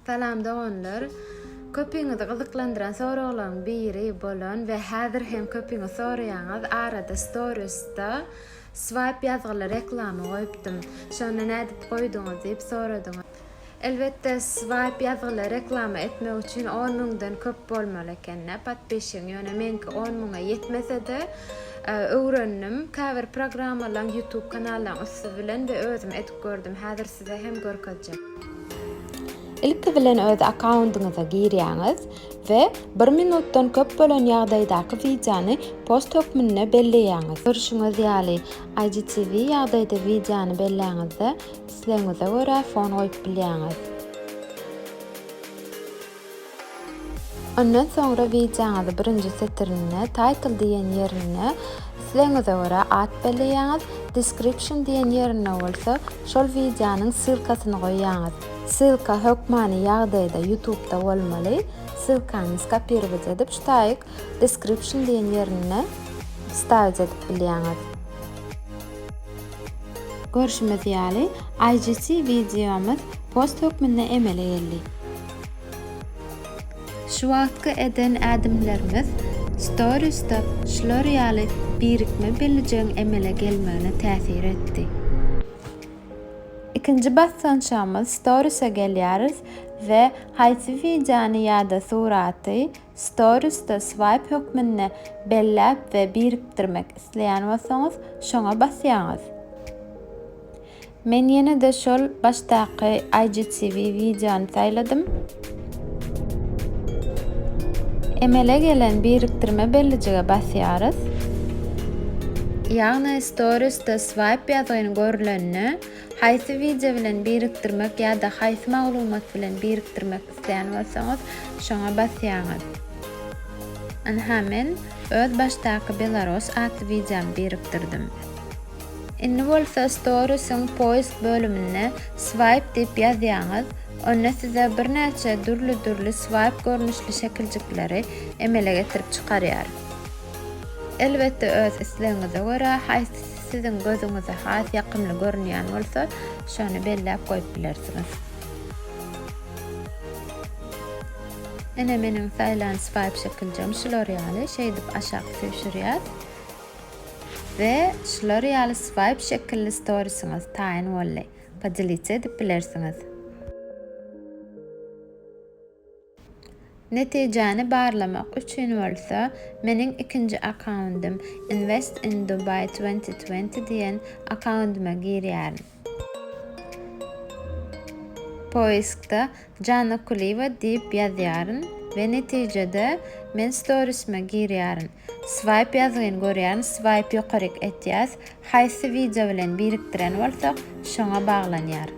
Salam doganlar. Köpiňizi gyzyklandyran soraglaryň biri bolan we häzir hem köpiňiz soraýaňyz arada storiesda swipe ýazgyly reklama goýupdym. Şony nädip goýduňyz diýip soradyňyz. Elbetde swipe ýazgyly reklama etmek üçin on müňden köp bolmaly ekende podpishigiň ýöne meňki on müňe ýetmesede öwrendim käbir programmalaň youtube kanallaň üsti bilen we özüm edip gördüm häzir size hem görkezjek. Ilki bilen öz akkaundyňyza girýäňiz we bir minutdan köp bolan ýagdaýdaky wideony post hökmünde belleýäňiz. Görşüňiz ýaly, IGTV ýagdaýda wideony belläňizde, islegiňize görä fon goýup bilýäňiz. Ondan soňra wideoňyzy birinji setirinde, Title diýen ýerinde islegiňize görä at belleýäňiz, Description diýen ýerinde bolsa şol wideonyň ssylkasyny goýýaňyz. Ssylka hökmany ýagdaýda Ýutubda bolmaly. Ssylkany skopirować edip ştaýg Description diýen ýerine wstawić edip bilýäňiz. Görşümiz ýaly, IGC wideomyz post hökmünde emele geldi. Şu wagtky eden ädimlerimiz Storiesda şular ýaly birikme biljegiň emele gelmegine täsir etdi. Ikinji basgançagymyz Stories'e gelýäris we haýsy wideony ýa-da suraty Stories'da swaýp hökmünde belläp we birikdirmek isleýän bolsaňyz, şoňa basýaňyz. Men ýene-de şol başdaky IGTV wideony saýladym. Emele gelen birikdirme bellijige basýarys. Ýagny Storiesde swaýp ýazgyny görlende, haýsy wideo bilen birikdirmek ýa-da haýsy maglumat bilen birikdirmek isleýän bolsaňyz, şoňa basýaňyz. Ynha men öz başdaky Belarus atly wideomy birikdirdim. Indi bolsa Stories-iň Post bölüminde Swipe diýip ýazýaňyz, onda size birnäçe dürli-dürli swipe görnüşli şekiljikleri emele getirip çykarýar. Elbetde öz islegiňize görä, haýsysy siziň gözüňize has ýakymly görünýän bolsa, şony belläp goýup bilersiňiz. Ine meniň saýlan swipe şekiljigim şular ýaly, şeýdip aşak süýşürýär. We şular ýaly swipe şekilli storisyňyz taýyn boldy. Podelitsa edip bilersiňiz. Netijäni barlamak üçin bolsa meniň ikinji akkaundym Invest in Dubai twenty twenty diýen akkaundyma girýärin. Poiskda Janna Kuliýewa diýip ýazýaryn we netijede men storisyma girýärin. Swaýp ýazgyn görýän swaýp ýokaryk etýäs haýsy wideo bilen birikdiren bolsak şoňa baglanýar.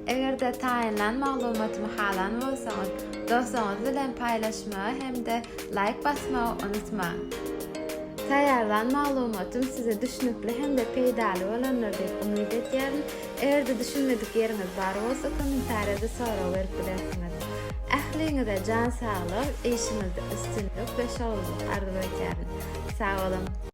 Egerde taýynlan maglumatymy halan bolsaňyz dostuňyz bilen paýlaşmagy hem-de laýk basmagy unutmaň. Taýýarlan maglumatym size düşnükli hem-de peýdaly bolandyr diýip umyt edýärin. Eger-de düşünmedik ýeriňiz bar bolsa, kommentariýada sorag berip bilersiňiz. Ähliňize jan saglyk, işiňizde üstünlik we şowlylyk arzuw edýärin. Sag boluň!